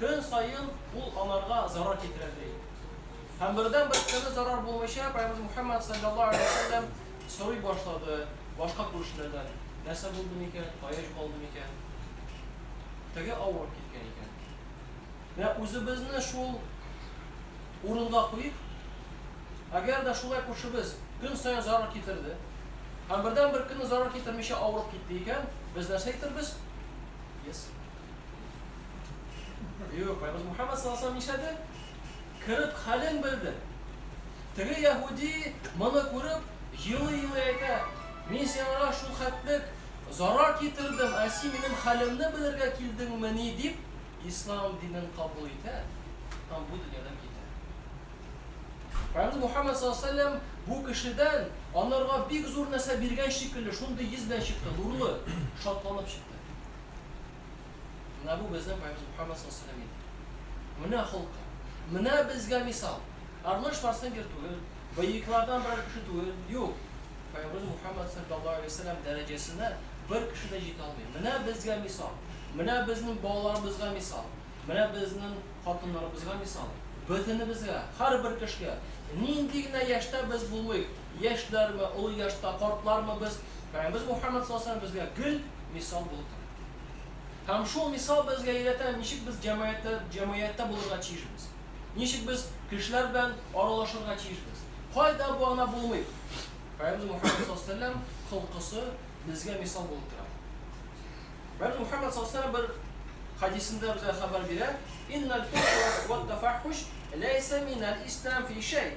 Көн саен ул аларга зарар китерә ди. Һәм бердән бер көнне зарар булмыйча Пәйгамбер Мухаммад саллаллаһу алейһи ва сәлләм сорый башлады башка күршеләрдән, нәрсә булды микән, кая югалды микән? Теге авырып киткән икән. Менә үзебезне шул урынга куйып, әгәр дә шулай күршебез көн саен зарар китерде, һәм бердән бер көнне зарар китермичә авырып китте икән, без нәрсә әйтербез? Yes. Юк, Байбыз Мухаммад саллаллаху алейхи нишләде? Кереп хәлен белде. Теге яһуди моны күреп, елый-елый әйтә, мин сиңа шул хәтлек зарар китердем, ә син минем хәлемне белергә килдеңмени дип, ислам динен кабул итә һәм бу дөньядан китә. Пәйгамбер Мухаммад саллаллаху алейхи ва бу кешедән анарга бик зур нәрсә биргән шикелле, шундый йөз белән чыкты, нурлы, шатланып чыкты. Менә бу безнең Пайгамбарыбыз Мухаммад саллаллаһу алейһи ва сәлләм. Менә холкы. Менә безгә мисал. Арнольд Шварценеггер түгел, боевиклардан берәр кеше түгел. Юк. Пайгамбарыбыз Мухаммад саллаллаһу алейһи ва сәлләм дәрәҗәсенә бер кеше дә җитә алмый. Менә безгә мисал. Менә безнең балаларыбызга мисал. Менә безнең хатыннарыбызга мисал. Бөтенебезгә, һәрбер кешегә, нинди генә яшьтә без булыйк, яшьләрме, олы яшьтә картлармы без, Пәйгамбәребез Мухәммәд саллаллаһу алейһи ва сәлләм безгә гел мисал булып тора. Һәм шул мисал безгә өйрәтә, ничек без җәмәгатьтә, җәмгыятьтә булырга тиешбез, ничек без кешеләр белән аралашырга тиешбез. Кайда бу ана булмый? Пәйгамбәребез Мухәммәд саллаллаһу алейһи ва сәлләм холкысы безгә мисал булып тора. Пәйгамбәребез Мухәммәд саллаллаһу алейһи ва сәлләм бер хәдисендә безгә хәбәр бирә, Иннәл фухш вәт-тафәххүш ләйсә минәл ислам фи шәй.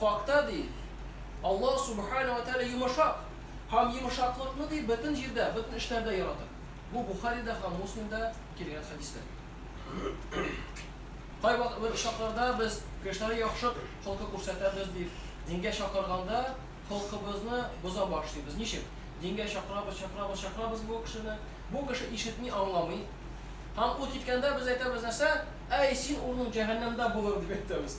Хакта, ди, Аллаһ Сүбхәнәһү вә Тәгалә йомышак һәм йомышаклыкны, ди, бөтен җирдә, бөтен эшләрдә ярата. Бу Бухаридә һәм Муслимда килгән хәдистән. Кайвакыт бер очракларда без кешеләргә яхшы холкы күрсәтәбез, дип, дингә чакырганда холкыбызны боза башлыйбыз. Ничек? Дингә чакырабыз, чакырабыз, чакырабыз бу кешене. Бу кеше ишетми, аңламый. Һәм ул киткәндә без әйтәбез нәрсә? Әй, син урының җәһәннәмдә булыр, дип әйтәбез.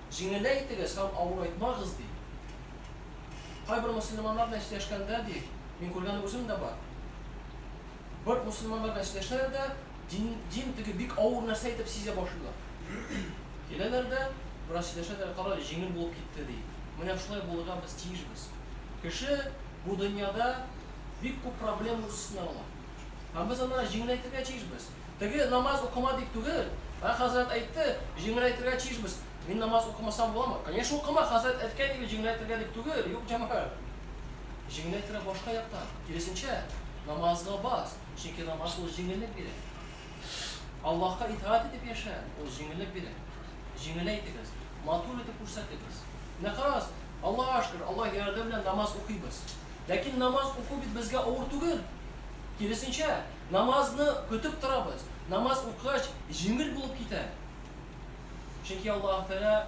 Җиңеләй итегез һәм авырайтмагыз, ди. Кайбер мөселманнар белән сөйләшкәндә, ди, мин күргән үзем дә бар. Бер мөселманнар белән сөйләшәләр дә, дин, дин теге бик авыр нәрсә итеп сизә башлыйлар. Киләләр дә, бераз сөйләшәләр, карале, җиңел булып китте, ди. Менә шулай булырга без тиешбез. Кеше бу дөньяда бик күп проблема үз өстенә ала. Һәм без аны җиңеләйтергә тиешбез. Теге намаз укыма дип түгел, ә хәзрәт әйтте, җиңеләйтергә тиешбез. Мин намаз укымасам буламы? Конечно укыма, хәзрәт әйткән дип җиңеләйтергә дип түгел, юк җәмәгать. Җиңеләйтергә башка яктан, киресенчә, намазга бас, чөнки намаз ул җиңеллек бирә. Аллаһка итаать итеп яшә, ул җиңеллек бирә. Җиңеләйтегез, матур итеп күрсәтегез. Менә карагыз, Аллага шөкер, Аллаһ ярдәме белән намаз укыйбыз. Ләкин намаз уку бит безгә авыр түгел. Киресенчә, Намазны көтеп торабыз. Намаз укыгач, җиңел булып китә. Чөнки Аллаһ Тәгалә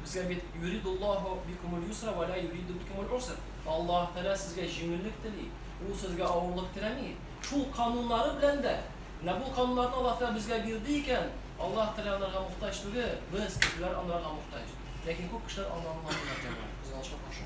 безгә бит юридуллаһу бикумул юсра ва ла юриду бикумул уср. Аллаһ Тәгалә сезгә җиңеллек тели. Ул сезгә авырлык теләми. Шул кануннары белән дә. Менә бу кануннарны Аллаһ Тәгалә безгә бирде икән, Аллаһ Тәгалә анарга мохтаҗ түгел, без, кешеләр, анарга мохтаҗ. Ләкин күп кешеләр аны аңламыйлар, җәмәгать, кызганычка каршы.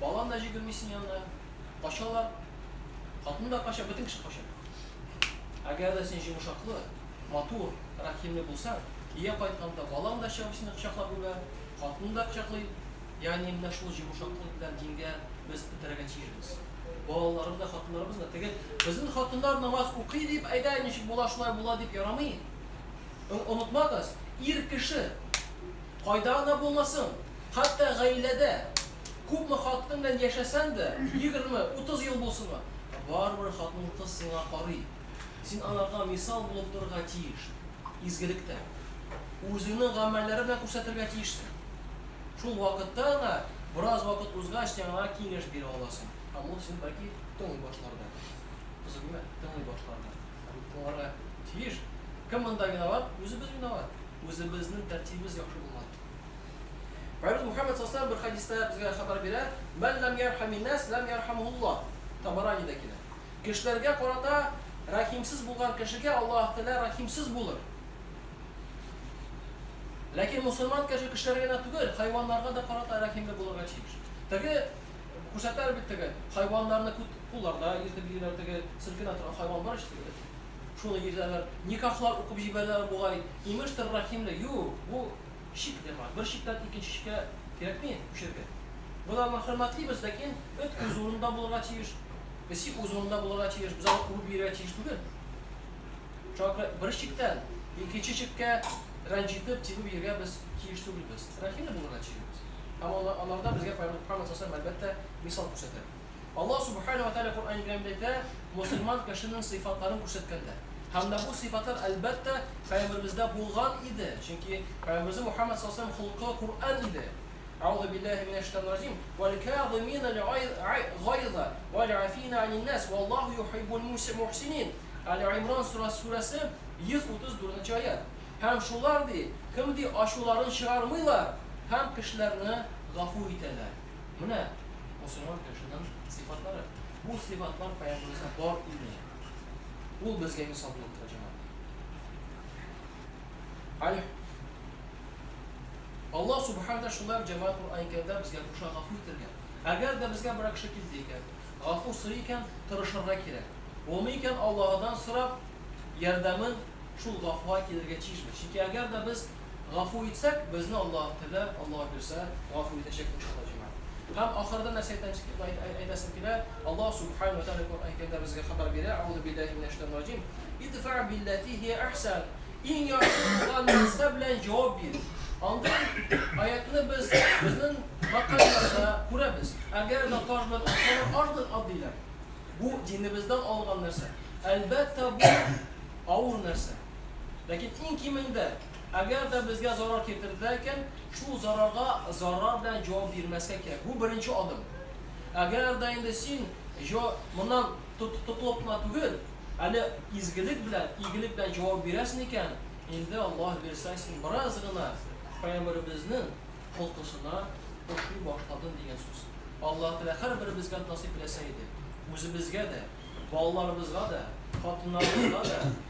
Балан да җигермисен янына. Качалар. Хатын да кача, бөтен кеше кача. Әгәр дә син җимушаклы, матур, рәхимле булсаң, ия кайтканда балан да чыгып сине кочаклап үбә, хатын да кочаклый. Ягъни менә шул җимушаклык белән дингә без этәрергә тиешбез. Балаларыбыз да, хатыннарыбыз да теге безнең хатыннар намаз укый дип, әйдә, ничек була шулай була дип ярамый. Онытмагыз, ир кеше. Кайда гына булмасын, хәтта гаиләдә күпме хатын белән яшәсәң дә, егерме, утыз ел булсынмы, барыбер хатын-кыз сиңа карый. Син аларга мисал булып торырга тиеш. Изгелектә. Үзеңнең гамәлләрең белән күрсәтергә тиешсең. Шул вакытта гына, бераз вакыт узгач, син аңа киңәш бирә аласың. Һәм ул сине бәлки тыңлый башлар да. Кызык түгелме? Тыңлый башлар да. Һәм тыңларга тиеш. Кем монда виноват? Үзебез виноват. Үзебезнең тәртибебез яхшы булган. Пәйгамбәребез Мөхәммәд саллаллаһу алейһи ва саллям бер хәдистә безгә хәбәр бирә, Мән ләм ярхәминнәс, ләм ярхәмһуллаһ. Табаранидә килә. Кешеләргә карата рәхимсез булган кешегә Аллаһ Тәгалә рәхимсез булыр. Ләкин мусульман кеше кешеләргә генә түгел, хайваннарга да карата рәхимле булырга тиеш. Теге күрсәтәләр бит теге хайваннарны күт кулларда иртеп йөриләр, теге селкенә торган хайван бар ич, Шуны йөртәләр. Никахлар укып җибәрәләр бугай. Имештер, Рәхимле. Юк, бу чик дәвам. Бер чиктән икенче чиккә кирәкми күчәргә. Без аларны хөрмәтлибез, ләкин эт үз урынында булырга тиеш, песи үз урынында булырга тиеш, без аны куып җибәрергә тиеш түгел. Шуңа күрә бер чиктән икенче чиккә рәнҗетеп, тибеп йөрергә без тиеш түгелбез. Рәхимле булырга тиешбез. Һәм алар да безгә Пәйгамбәр Мөхәммәд саллаллаһу галәйһи ва сәлләм, әлбәттә, мисал күрсәтә. Аллаһ Сүбхәнәһү вә Тәгалә Коръән-ы Кәримдә әйтә, мөселман кешенең сыйфатларын күрсәткәндә. Һәм дә бу сыйфатлар, әлбәттә, пәйгамбәребездә булган иде, чөнки пәйгамбәребез Мухәммәд саллаллаһу галәйһи ва сәлләм холкы Коръән иде. Әгъузу биллаһи минә шәйтанир раҗим. Вәл-кәазиминәл гайза вәл-афина анин-нас, валлаһу юхиббул мухсинин. Әл-Имран сүрәсе, 134 нче аять. Һәм шулар, ди, кем, ди, ачуларын чыгармыйлар һәм кешеләрне гафу итәләр. Менә мусульман кешенең сыйфатлары. Бу сыйфатлар пәйгамбәребездә бар иде. Ул безгә мисал булып тора җәмәгать. Аль Аллаһ субхана тәгалә шулай җәмәгать Куръан Кәримдә безгә куша гафу итәргә. Әгәр дә безгә берәр кеше килде икән, гафу сорый икән, тырышырга кирәк. Булмый икән, Аллаһыдан сорап, ярдәмен шул гафуга килергә тиешбез. Чөнки әгәр дә без Гафу итсәк, безне Аллаһ Тәгалә, Аллаһ бирсә, гафу итәчәк, иншаллаһ, җәмәгать. Һәм ахырда нәрсә әйтәсем килә, Аллаһ Сүбхәнәһү вә Тәгалә Коръән Кәримдә безгә хәбәр бирә, Әгъузу билләһи минәш шәйтанир раҗим, Идфә билләти һия әхсән, иң яхшы булган нәрсә белән җавап бир. Андый аятьне без безнең мәкальләрдә күрәбез. Әгәр дә таш белән атсалар, аш белән ат диләр. Бу динебездән алынган нәрсә. Әлбәттә, бу авыр нәрсә. Ләкин иң кимендә, әгәр дә безгә зарар китерделәр икән, шул зарарга зарар белән җавап бирмәскә кирәк. Бу беренче адым. Әгәр дә инде син җо, моннан тот, тотылып кына түгел, әле изгелек белән, игелек белән җавап бирәсең икән, инде Аллаһ бирсә, син бераз гына Пәйгамбәребезнең холкысына ошый башладың дигән сүз. Аллаһ Тәгалә һәрберебезгә насыйп иләсә иде. Үзебезгә дә, балаларыбызга да, хатыннарыбызга да,